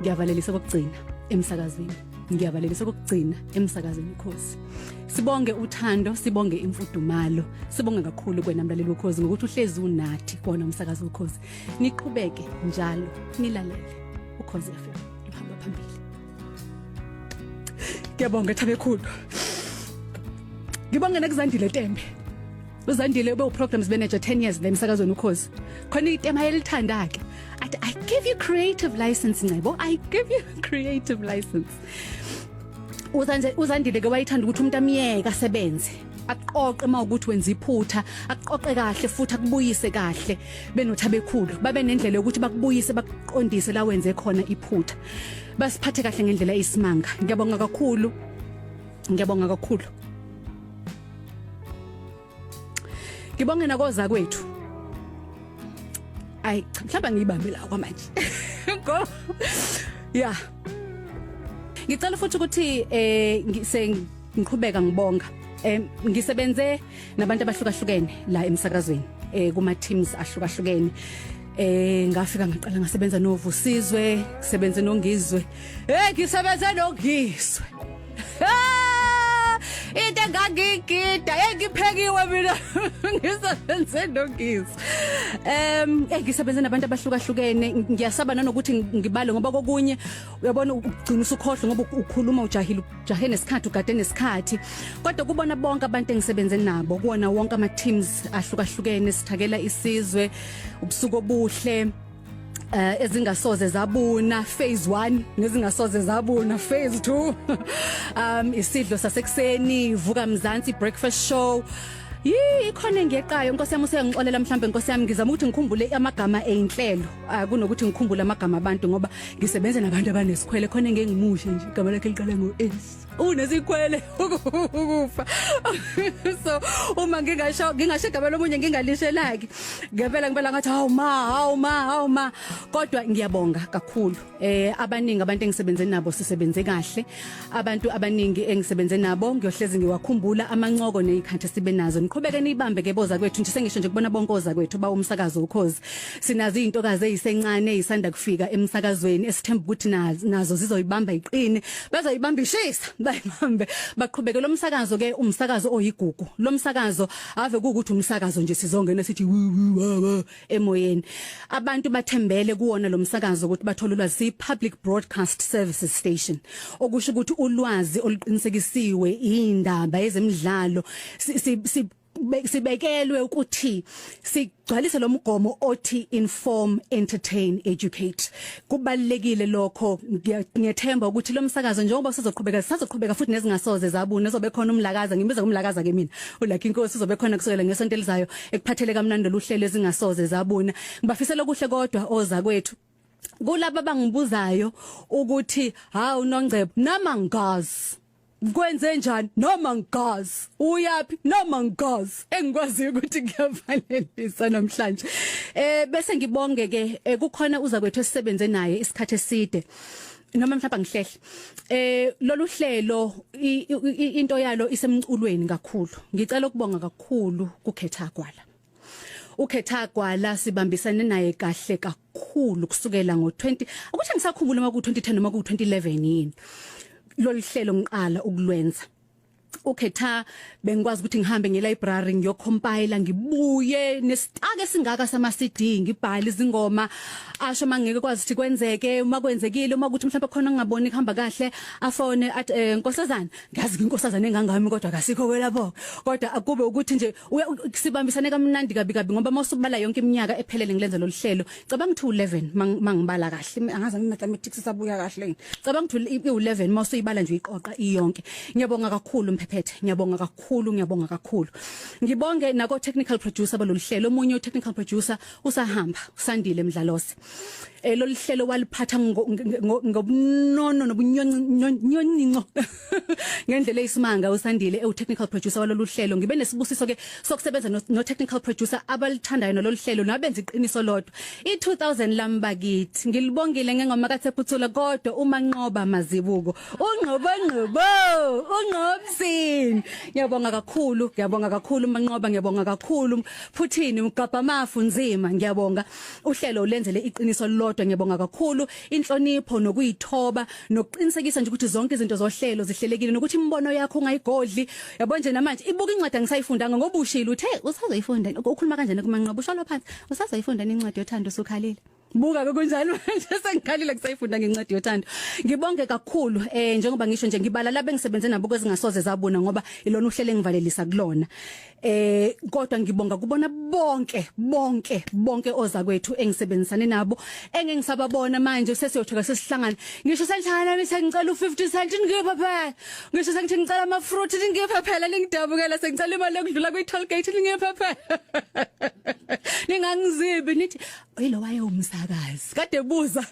ngiyavalelisa kokugcina emsakazweni ngiyavalelisa kokugcina emsakazweni ukhosi sibonge uthando sibonge imfudumalo sibonge kakhulu kwena mlaleli wokhozi ngokuthi uhlezi unathi kona umsakazi wokhozi niqhubeke njalo nilalele ukhozi FM uhamba phambili ngiyabonga thabekhulu ngibonge nekuzandile tembe uzandile ube uprograms manager 10 years la emsakazweni ukhozi khona itema elithanda ke athi i give you creative license ncebo i give you creative license uzanje uzandile ke wayithanda ukuthi umuntu amiyeka asebenze aqoqe uma ukuthi wenza iphutha aqoqe kahle futhi akubuyise kahle benotha bekhulu babe nendlela yokuthi bakubuyise bakuqondise la wenze khona iphutha basiphathe kahle ngendlela isimanga ngiyabonga kakhulu ngiyabonga kakhulu ngibonge nakoza kwethu ayi cha mhlawumbe ngiyibambe la kwamanje go yeah ngicela futhi ukuthi eh sengiqhubeka ngibonga eh ngisebenze nabantu abahlukahlukene la emsakazweni eh kuma teams ahlukahlukene eh ngafika ngaqala ngasebenza novusizwe sebenze nongizwe eh ngisebenze nongizwe into engangigida engiphekiwe mina ngisebenze nogisi um eh ngisebenze nabantu abahlukahlukene ngiyasaba nanokuthi ngibale ngoba kokunye uyabona ugcina usukhohle ngoba ukhuluma ujahile ujahe nesikhathi ugade nesikhathi kodwa kubona bonke abantu engisebenze nabo kuwona wonke ama teams ahlukahlukene sithakela isizwe ubusuku obuhle eh ezingasoze zabuna phase 1 nezingasoze zabuna phase 2 um isidlo sasekuseni vuka mzansi breakfast show Yii ikhona engeqayo inkosi yami usengixolela mhlambe inkosi yami ngizama ukuthi ngikhumbule amagama einhlelo ah, kunokuthi ngikhumbule amagama abantu ngoba ngisebenza nabantu abanesikhwele khona engengimushe nje igama lakhe liqala ngo S unesikhwele ukufa so uma ngingasho ngingasho igama lomunye ngingalishelaki ngempela ngempela ngathi hawu ma hawu ma hawu ma kodwa ngiyabonga kakhulu eh abaningi abantu engisebenze nabo sisebenze kahle abantu abaningi engisebenze nabo ngiyohlezi ngiwakhumbula amancoko nezikhathi sibe nazo niqhubeke nibambe ke boza kwethu nje sengisho nje kubona bonke oza kwethu ba umsakazo ukhozi Sinazo izintokazi ezisencane ezisanda kufika emsakazweni esithemba ukuthi nazo zizoyibamba iqine bazoyibamba ishisa bayibambe baqhubeke lo msakazo ke umsakazo oyigugu lo msakazo ave ukuthi umsakazo nje sizongena sithi emoyeni abantu bathembele kuwona lo msakazo ukuthi bathole ulwazi si public broadcast services station okusho ukuthi ulwazi oluqinisekisiwe indaba yezemidlalo si sibekelwe ukuthi sigcwalise lomgomo othi inform entertain educate kubalekile lokho ngiyethemba ukuthi lomsakazo njengoba sizoqhubeka sisazoqhubeka futhi nezingasoze zabuna zobe khona umlakaza ngimbiza umlakaza ke mina ulakhe inkosi uzobe khona kusukela ngesonto elizayo ekuphathele kamnandi luhlelo ezingasoze zabuna ngibafisela okuhle kodwa oza kwethu kulabo abangibuzayo ukuthi hawu nongcebo nama ngazi ngikwenze njani noma ngigazi uyaphi noma ngigazi engikwazi ukuthi kuyavalelisa namhlanje eh bese ngibonge ke eh, kukhona uza kwethu esisebenze naye isikhathi eside noma mhlawumbe ngihlehle eh lolu hlelo into yalo isemculweni kakhulu ngicela ukubonga kakhulu kukhetha kwala ukhetha gwala sibambisene naye kahle kakhulu kusukela ngo20 akuthi ngisakhumbula uma ku2010 noma ku2011 yini loluhlelo ngiqala ukulwenza ukhetha bengikwazi ukuthi ngihambe nge library ngiyocompile ngibuye nesitake singaka sama CD ngibhale izingoma asho mangeke kwazi ukuthi kwenzeke uma kwenzekile uma ukuthi mhlawumbe khona ngingaboni kuhamba kahle afone at eh, nkosazana ngiyazi inkosazana engangami kodwa kasikho kwelabo kodwa akube ukuthi nje sibambisane kamnandi kabi kabi ngoba mawusubala yonke iminyaka ephelele ngilenza lolu hlelo cabanga ukuthi u11 mangibala kahle angazi mina mathematics sabuya kahle cabanga ukuthi u11 mawusuyibala nje iqoqa iyonke ngiyabonga kakhulu mphephethe ngiyabonga kakhulu ngiyabonga kakhulu ngibonge nako technical producer balolu hlelo omunye u technical producer usahamba usandile mdlalose eh lolu hlelo waliphatha ngobunono nobunyoncinco ngendlela eyisimanga usandile ewu technical producer walolu hlelo ngibe nesibusiso ke sokusebenza no technical producer abalithandayo nalolu hlelo nabenza iqiniso lodwa i 2000 lambakithi ngilibongile ngengoma kathephuthula kodwa uma nqoba mazibuko ungqobo ngqobo ungqobsini ngiyabonga kakhulu ngiyabonga kakhulu manqoba ngiyabonga kakhulu phuthini mgabha mafu nzima ngiyabonga Uhlelo ulenzele iqiniso lodwa ngiyabonga kakhulu inhlonipho nokuyithoba nokuqinisekisa nje ukuthi zonke izinto zohlelo zihlelekile nokuthi imibono yakho ungayigodli yabo nje namanje ibuka incwadi angisayifundanga ngoba ushilo uthe usazoyifunda ukhuluma kanjani kumanqobo usholo phansi usazoyifunda incwadi yothando usukhalile buka ke kunjalo manje sengikhalile kusayifunda ngencwadi yothando ngibonge kakhulu eh njengoba ngisho nje ngibala labe ngisebenze nabo kwezingasoze zabona ngoba ilona uhlele ngivalelisa kulona Eh kodwa ngibonga kubona bonke bonke bonke oza kwethu engisebenzisane nabo engengisababona manje sesiyothoka sesihlangana ngisho senjana nithe ngicela u50 cent ngipha phela ngisho sengithi ngicela ama fruit ngipha phela lingidabukela sengicela imali yokudlula kwi toll gate ngipha phela ningangizibi nithi Oyilo wayewumsakazi. Kade buza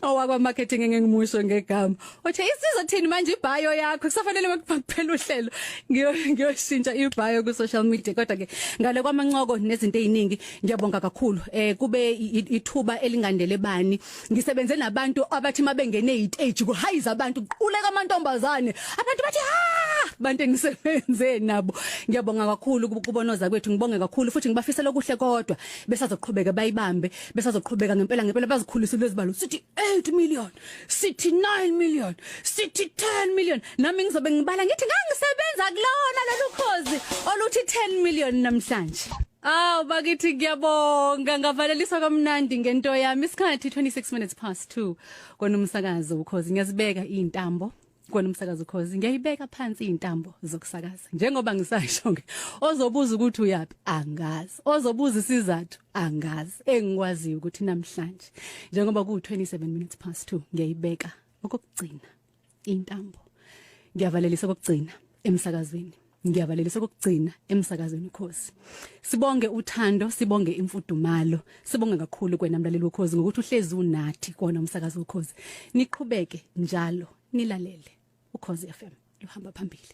owakwa marketing engingimusho ngegama. Othe isizo thini manje ibhayo yakho kusafanele makuphela uhlelo. Ngiyo ngiyoshintsha ibhayo ku social media kodwa ke ngale kwamancoko nezinto eziningi ngiyabonga kakhulu. Eh kube ithuba elingandele bani. Ngisebenze nabantu abathi mabengene istage kuhayiza abantu kuquleka amantombazane. Abantu bathi ha bantu engisebenze nabo. Ngiyabonga kakhulu kubonoza kwethu ngibonge kakhulu futhi ngibafisela okuhle kodwa besazoqhubeka bayibambe besazoqhubeka ngempela ngempela bazikhulise lezibalo sithi 8 million sithi 9 million sithi 10 million nami ngizobe ngibala ngithi ngangisebenza kulona lolukhozi oluthi 10 million namhlanje Aw bakithi ngiyabonga ngavaleliswa kamnandi ngento yami isikhathi 26 minutes past 2 kona umsakazo ukhozi ngiyazibeka izintambo kona umsakazo cause ngiyayibeka phansi intambo zokusakaza njengoba ngisasho ke ozobuza ukuthi uyapi angazi ozobuza isizathu angazi engikwazi ukuthi namhlanje njengoba ku 27 minutes past 2 ngiyayibeka okugcina intambo ngiyavalelisa okugcina emsakazweni ngiyabalelisa kokugcina emsakazweni ukhozi sibonge uthando sibonge imfudumalo sibonge kakhulu kwena mlaleli wokhozi ngokuthi uhlezi unathi kona umsakazo wokhozi niqhubeke njalo nilalele ukhozi FM luhamba phambili